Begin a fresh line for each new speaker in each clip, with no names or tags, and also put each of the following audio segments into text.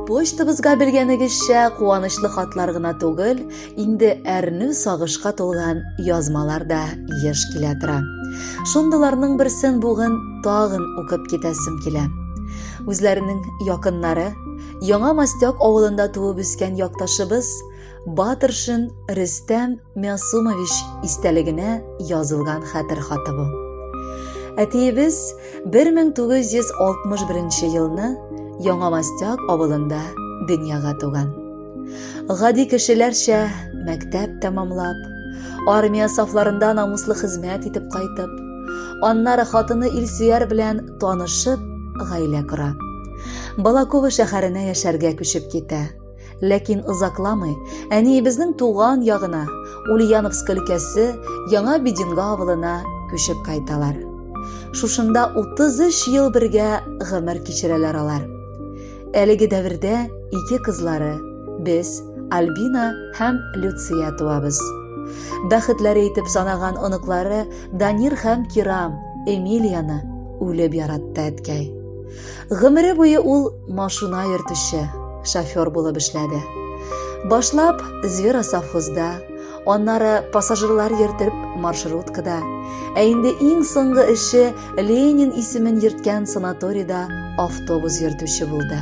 почтабызга белгәнегезчә куанычлы хатлар гына түгел, инде әрнү сагышка тулган язмалар да еш килә тора. Шундыйларның берсен бүген тагын укып китәсем килә. Үзләренең якыннары, Яңа Мастяк авылында туып үскән якташыбыз Батыршин Рөстәм Мясумович истәлегенә язылган хәтер хаты бу. Әтиебез 1961 елны Яңа Мастяк авылында дөньяга туган. Гади кешеләрчә мәктәп тәмамлап, армия сафларында намуслы хезмәт итеп кайтып, аннары хатыны Илсөяр белән танышып, гаилә кора. Балакова шәһәренә яшәргә күчеп китә. Ләкин озакламый әниебезнең туган ягына, Ульяновск өлкәсе Яңа Бединга авылына күчеп кайталар. Шушында 33 ел бергә гомер кичерәләр алар. Әлеге дәвердә ике кызлары, без, Альбина һәм Люция туабыз. Бәхетләре итеп санаган оныклары Данир һәм Кирам, Эмилияны үлеп яратты әткәй. Гомере буе ул машина йөртүче, шофер булып эшләде. Башлап Звера совхозда, аннары пассажирлар йөртеп маршруткада, ә инде иң соңгы эше Ленин исемен йөрткән санаторийда автобус йөртүче булды.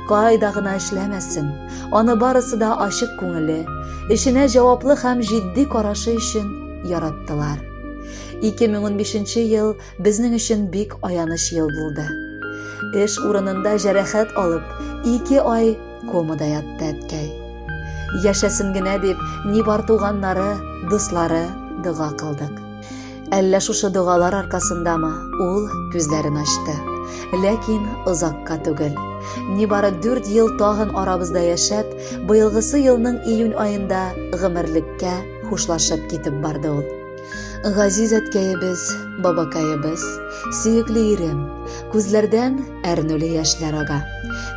Кайда гына эшләмәсен, аны барысы да ачык күңеле, эшенә җаваплы һәм җитди карашы өчен яраттылар. 2015 ел Безнең өчен бик аяныч ел булды. Эш урынында җәрәхәт алып, ике ай комада ятты әткәй. Яшәсен генә дип, ни бар туганнары, дуслары дога кылдык. Әллә шушы догалар аркасындамы, ул күзләрен ачты. Ләкин озакка түгел. Ни бары 4 ел тагын арабызда яшәп, быелгысы елның июнь аенда гомерлеккә хушлашып китеп барды ул. Газиз әткәебез, бабакаебыз, сөекле ирем, күзләрдән әрнүле яшьләр ага.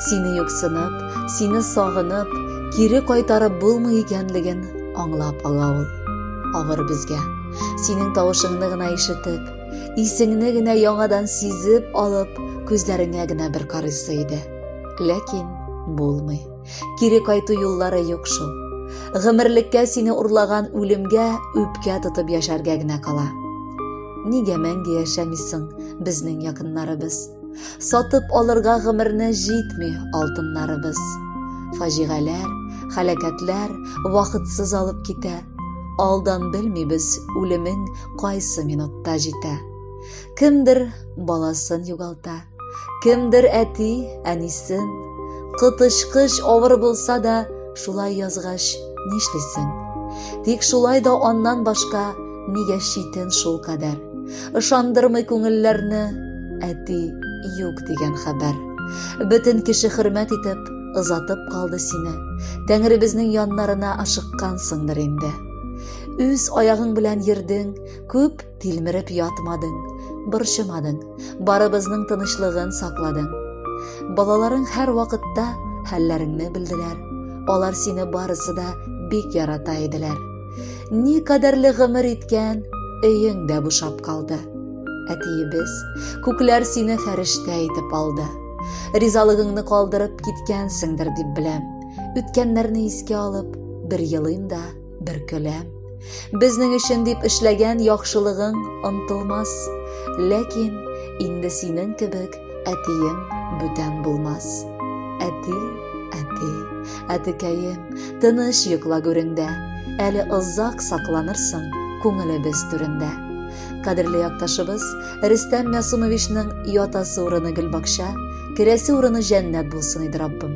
Сине юксынып, сине сагынып, кире кайтарып булмый икәнлеген аңлап ала ул. Авыр безгә. Синең тавышыңны гына ишетеп, исеңне генә яңадан сизеп алып, күзләреңә генә бер карыйсы иде. Ләкин булмый. Кире кайту юллары юк шул. Гомерлеккә сине урлаган үлемгә үпкә тотып яшәргә генә кала. Нигә мәңге яшәмисең, безнең якыннарыбыз? Сатып алырга гомерне җитми алтыннарыбыз. Фаҗигаләр, халәкәтләр вакытсыз алып китә. Алдан белмибез, үлемең кайсы минутта җитә. Кемдер баласын югалта, Кемдер әти, әнисен, кытычкыч авыр булса да, шулай язгач, нишлисең? Тик шулай да аннан башка нигә читен шул кадәр. Ышандырмый күңелләрне әти юк дигән хәбәр. Бөтен кеше хөрмәт итеп, озатып калды сине. Тәңребезнең яннарына ашыккансыңдыр инде. Үз аягың белән йөрдең, күп Тилмереп ятмадың, борчымадың, барыбызның тынычлыгын сакладың. Балаларың һәр вакытта хәлләреңне белделәр. Алар сине барысы да бик ярата иделәр. Ни кадәрле гомер иткән, өең дә бушап калды. Әтиебез, күкләр сине фәрештә итеп алды. Ризалыгыңны калдырып киткәнсеңдер дип беләм. Үткәннәрне искә алып, бер елыйм да, бер көләм безнең өчен дип эшләгән яхшылыгың онтылмас ләкин инде синең кебек әтиең бүтән булмас әти әти әтекәем тыныч йокла гүреңдә әле озак сакланырсың күңелебез түрендә кадерле якташыбыз рөстәм мясумовичның ятасы урыны гөлбакча керәсе урыны җәннәт булсын иде раббым